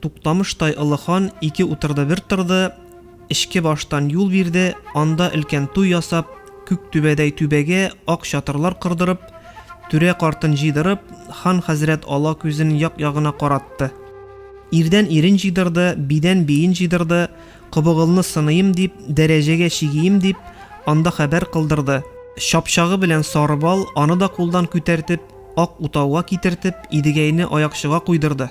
Туктамыштай олы хан ике утырды бер торды, эчке баштан юл бирде, анда өлкән туй ясап, күк түбәдәй түбәгә ак чатырлар кордырып, түрә картын җыйдырып, хан хәзрәт ала күзен як-ягына каратты. Ирдән ирен җыйдырды, бидән биен җыйдырды, кобыгылны сыныйм дип, дәрәҗәгә чигием дип, анда хәбәр кылдырды. Чапчагы белән Сарыбал аны да кулдан күтәртеп, Ак утауга китертеп, Идегәйне аякчыга куйдырды.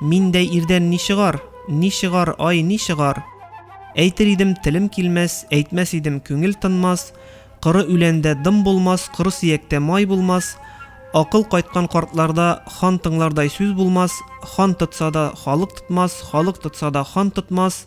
Миндәй ирдән ни чыгар? Ни чыгар, ай, ни чыгар? Әйтер идем, телем килмәс, әйтмәс идем, күңел тынмас, коры үләндә дым булмас, коры сөяктә май булмас, акыл кайткан картларда хан тыңлардай сүз булмас, хан тотса да халык тотмас, халык тотса да хан тотмас,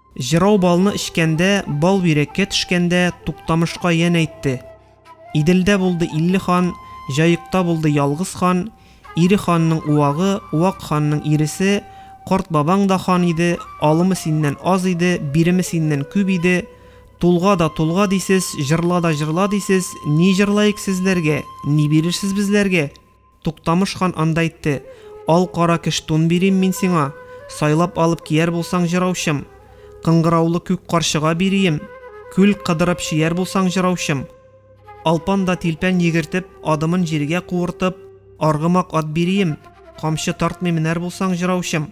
Җырау балны эчкәндә, бал бирәккә төшкәндә Туктамышка янә әйтте, Иделдә булды илле хан, Җаекта булды ялгыз хан, Ире ханның уагы, уак ханның иресе, Карт бабаң да хан иде, алымы синнән аз иде, биреме синнән күп иде, Тулга да тулга дисез, җырла да җырла дисез, ни җырлаек сезләргә, ни бирерсез безләргә? Туктамыш хан анда әйтте, Ал-кара кеш тун бирим мин сиңа, сайлап алып кияр булсаң, җыраучым. Кыңгыраулы күк карчыга бирием, күл кыдырып чөяр булсаң, җыраучым. Алпан да тилпән йөгертеп, адымын җиргә куыртып, аргымак ат бирием, камчы тартмый менәр булсаң, җыраучым.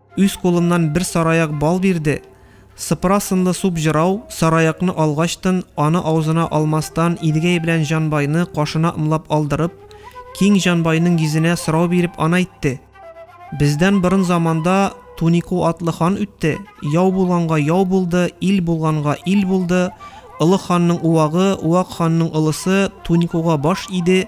Үз кулымнан бер сараяк бал бирде. Сыпыра сынлы суп җырау, сараякны алгачтын, аны аузына алмастан Идгәй белән Җанбайны кашына ымлап алдырып, киң Җанбайның йөзенә сорау биреп ана итте. Бездән борын заманда Тунику атлы хан үтте, яу булганга яу булды, ил булганга ил булды, Олы ханның уагы, уак ханның олысы Туникуга баш иде,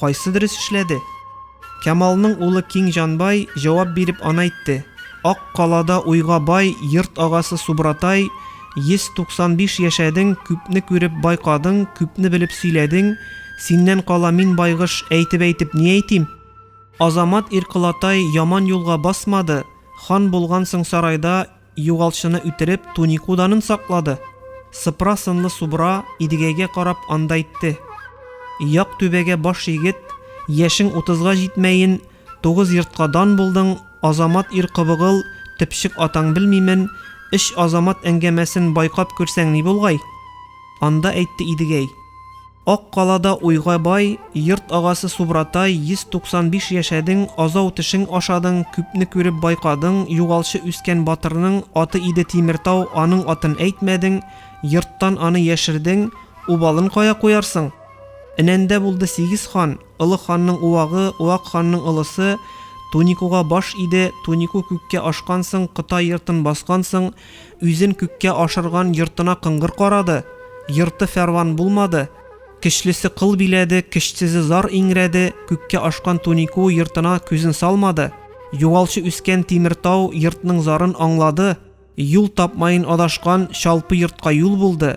Кайсы дөрес эшләде? Кямалның улы Киң Җанбай җавап биреп анайтте, Ак калада уйга бай йорт агасы Субратай, 195 яшәдең, күпне күреп байкадың, күпне белеп сөйләдең, синнән кала мин байгыш әйтеп-әйтеп ни әйтим? Азамат Ирколатай яман юлга басмады, хан булгансың сарайда, Югалчыны үтереп, тунику данын саклады. Сыпра сынлы субра Идегәйгә карап анда әйтте. Як түбәгә баш егет, яшең утызга җитмәен, тугыз йортка дан булдың, Азамат ир кобыгыл, төпчек атаң белмимен, Эч Азамат әңгәмәсен байкап күрсәң ни булгай? Анда әйтте Идегәй. Ак калада уйга бай, Йорт агасы Субратай, 195 яшәдең, Азау тешең ашадың, Күпне күреп байкадың, Югалчы үскән батырның Аты иде Тимертау, Аның атын әйтмәдең, Йорттан аны яшердең, Убалын кая куярсың? Энәндә булды сигез хан, Олы ханның уагы, Уак ханның олысы, Туникуга баш иде, Тунику күккә ашкансың, Кытай йортын баскансың, Үзен күккә ашырган йортына кыңгыр карады, Йорты фәрван булмады. Көчлесе кыл биләде, көчсезе зар иңрәде, Күккә ашкан Туникуы йортына күзен салмады. Юалчы үскән Тимертау йортның зарын аңлады, Юл тапмаен адашкан Чалпы йортка юл булды.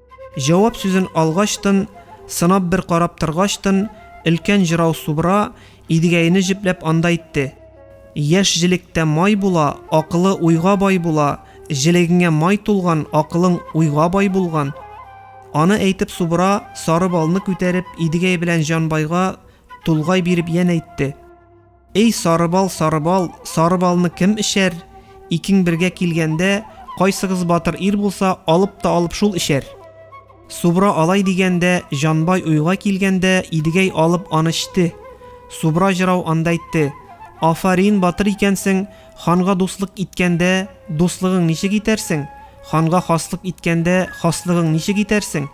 Җавап сүзен алгачтын, сынап бер карап торгачтын, өлкән җырау Субра Идегәене җепләп анда итте. Яшь җелектә май була, акылы уйга бай була, җелегеңә май тулган, акылың уйга бай булган. Аны әйтеп Субра, сары балны күтәреп, Идегәй белән Җанбайга тулгай биреп янә әйтте. Эй, Сарыбал, Сарыбал, сары балны кем эчәр? Икең бергә килгәндә, кайсыгыз батыр ир булса, алып та алып шул эчәр. Субра алай дигәндә, Җанбай уйга килгәндә, Идегәй алып аны эчте. Субра җырау анда әйтте, Афарин, батыр икәнсең, ханга дуслык иткәндә, дуслыгың ничек итәрсең? Ханга хаслык иткәндә, хаслыгың ничек итәрсең?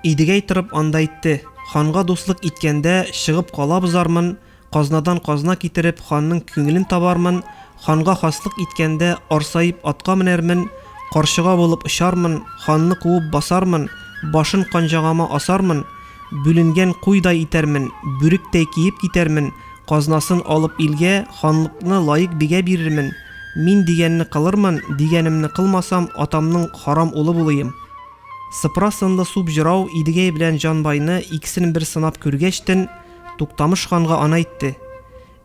Идегәй торып анда әйтте, Ханга дуслык иткәндә, чыгып калабыз армын, Казнадан казна китереп, ханның күңелен табармын, ханга хаслык иткәндә, арсаеп атка менәрмен, карчыга булып очармын, ханны куып басармын, башын канҗагама асармын, бүленгән куйдай итәрмен, бүректәй киеп китәрмен, казнасын алып илгә, ханлыкны лаек бигә бирермен, мин дигәнне кылырмын, дигәнемне кылмасам, атамның харам улы булыйм. Сыпыра сынлы суп җырау Идегәй белән Җанбайны икесен бер сынап күргәчтен, Туктамыш ханга ана әйтте.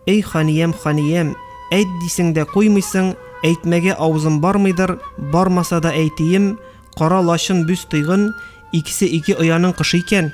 Эй ханиям, ханиям, әйт дисең дә куймыйсың, әйтмәгә авызым бармыйдыр, бармаса да әйтием, кара лачын бүз тыйгын, икесе ике ояның кошы икән.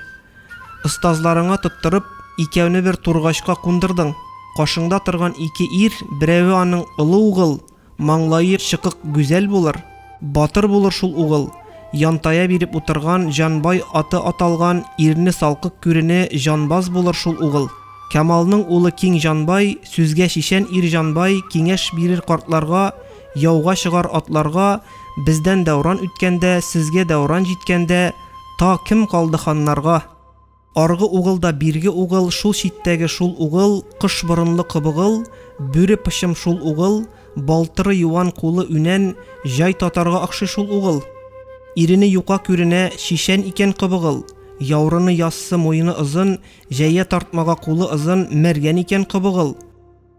Остазларыңа тоттырып, икәүне бер тургачка кундырдың. Кашыңда торган ике ир, берәве аның олы угыл, Маңлае чыкык гүзәл булыр, батыр булыр шул угыл, янтая биреп утырган Җанбай аты аталган ирне салкык күрене җанбаз булыр шул угыл. Камалның улы киң Җанбай, сүзгә чишән ир Җанбай киңәш бирер картларга, яуга чыгар атларга, Бездән дәүран үткәндә, сезгә дәүран җиткәндә, та кем калды ханнарга? Аргы угыл да бирге угыл, шул читтәге шул угыл, кош борынлы кобыгыл, бүре пычым шул угыл, балтыры юан, кулы үнән, җай татарга охшый шул угыл. Ирене юка күренә, чишән икән кобыгыл. Яурыны яссы, муены озын, җәя тартмага кулы озын, мәргән икән кобыгыл.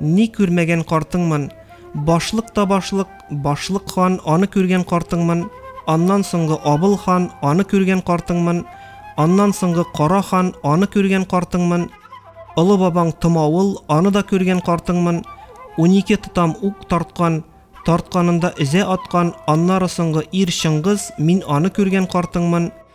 Ни күрмәгән картыңмын? Башлык та башлык, башлык хан, аны күргән картыңмын? Аннан соңгы Абыл хан, аны күргән картыңмын? Аннан соңгы Кара хан, аны күргән картыңмын? Олы бабаң Томавыл, аны да күргән картыңмын? Унике тотам ук тарткан, тартканында өзә аткан, аннары соңгы ир Чыңгыз, мин аны күргән картыңмын?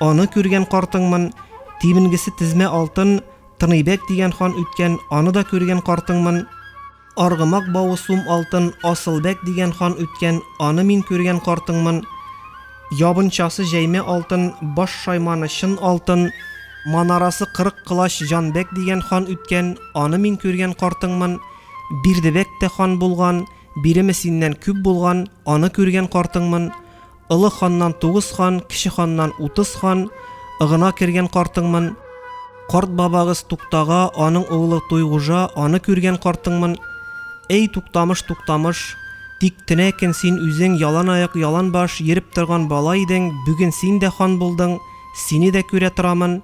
Аны күргән картыңмын, тименгесе тезмә алтын, Тыныбәк дигән хан үткән, аны да күргән картыңмын. Аргымак бавы сум алтын, Асылбәк дигән хан үткән, аны мин күргән картыңмын. Ябынчасы җәймә алтын, баш шайманы чын алтын, Манарасы кырык колач Җанбәк дигән хан үткән, аны мин күргән картыңмын. Бирдебәк тә хан булган, биреме синнән күп булган, аны күргән картыңмын. Олы ханнан тугыз хан, кече ханнан утыз хан, ыгына кергән картыңмын. Карт бабагыз Туктага, аның углы Туйгужа, аны күргән картыңмын. Эй, Туктамыш, Туктамыш, тик тенә көн син үзең ялан аяк, ялан баш йөреп торган бала идең, бүген син дә хан булдың, сине дә күрә торамын,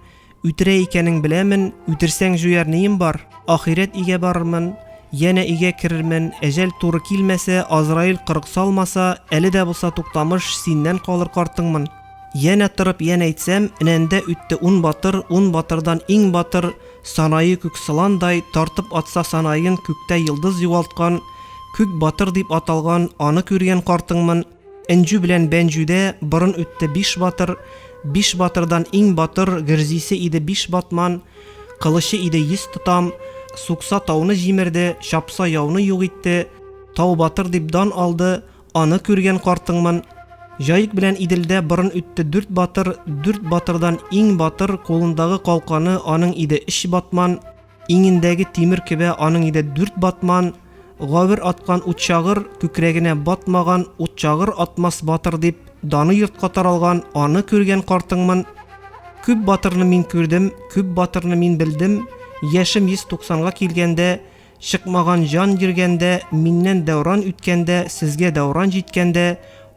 Үтерә икәнең беләмен, үтерсәң җуяр нием бар? Ахирәт игә барырмын, янә игә керермен, әҗәл туры килмәсә, Азраил кырык салмаса, әле дә булса Туктамыш, синнән калыр картыңмын. Янә торып янә әйтсәм, энәндә үтте ун батыр, ун батырдан иң батыр, санае күк сыландай, тартып атса санаен күктә йолдыз югалткан, күк батыр дип аталган, аны күргән картыңмын. Энҗү белән Бәнҗүдә борын үтте биш батыр, Биш батырдан иң батыр Гөрзисе иде биш батман, Кылычы иде йөз тотам, Сукса тауны җимерде, Чапса яуны юк итте, Тау батыр дип дан алды, Аны күргән картыңмын. Җаек белән Иделдә борын үтте дүрт батыр, Дүрт батырдан иң батыр Кулындагы калканы аның иде өч батман, Иңендәге тимер кебә аның иде дүрт батман, гавер аткан утчагыр, күкрәгенә батмаган утчагыр атмас батыр дип, даны йортка таралган, аны күргән картыңмын, күп батырны мин күрдем, күп батырны мин белдем, яшем йөз туксанга килгәндә, чыкмаган җан йөргәндә, миннән дәүран үткәндә, сезгә дәүран җиткәндә,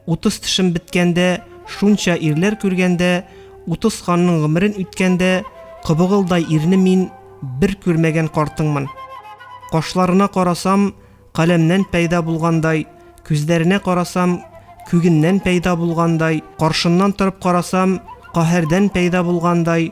Утыз тешем беткәндә, Шунча ирләр күргәндә, Утыз ханның гомерен үткәндә, Кобыгылдай ирне мин Бер күрмәгән картыңмын. Кашларына карасам, Каләмнән пәйда булгандай, Күзләренә карасам, Күгеннән пәйда булгандай, Каршыннан торып карасам, Каһәрдән пәйда булгандай,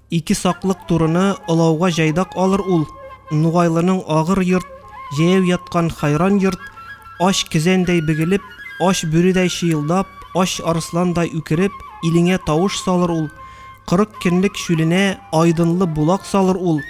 Ике саклык турыны олауга җайдак алыр ул, Нугайлының агыр йорт, җәяү яткан хайран йорт, ач кезәндәй бөгелеп, ач бүредәй чыелдап, ач арысландай үкереп, илеңә тавыш салыр ул, кырык көнлек чүленә айдынлы булак салыр ул,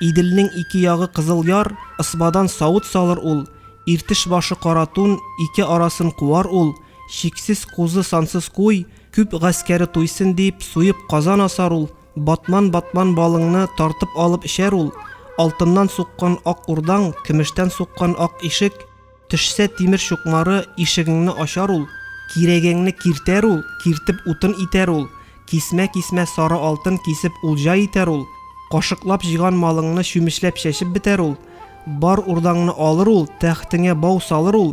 Иделнең ике ягы кызыл яр, ысбадан савыт салыр ул, Иртеш башы кара тун, ике арасын куар ул, чиксез кузы, сансыз куй, Күп гаскәре туйсын дип, суеп казан асар ул, батман-батман балыңны тартып алып эчәр ул, алтыннан суккан ак урдаң, көмештән суккан ак ишек, төшсә тимер чукмары, ишегеңне ачар ул, кирәгеңне киртәр ул, киртеп утын итәр ул, кисмә-кисмә сары алтын кисеп улҗа итәр ул, кашыклап җыйган малыңны чүмечләп чәчеп бетәр ул, бар урдаңны алыр ул, тәхтеңә бау салыр ул,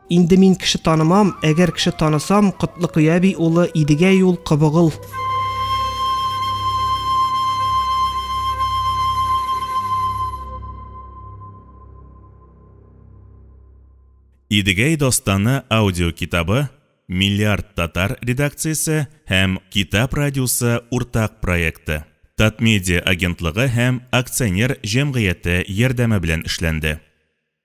Инде мин кеше танымам, әгәр кеше танысам, Котлыкой әби улы Идегәй ул Кобыгыл. Идегәй дастаны аудио китабы Миллиард татар редакциясе һәм Китап радиосы уртак проекты. Татмедиа агентлыгы һәм акционер җәмгыяте ярдәме белән эшләнде.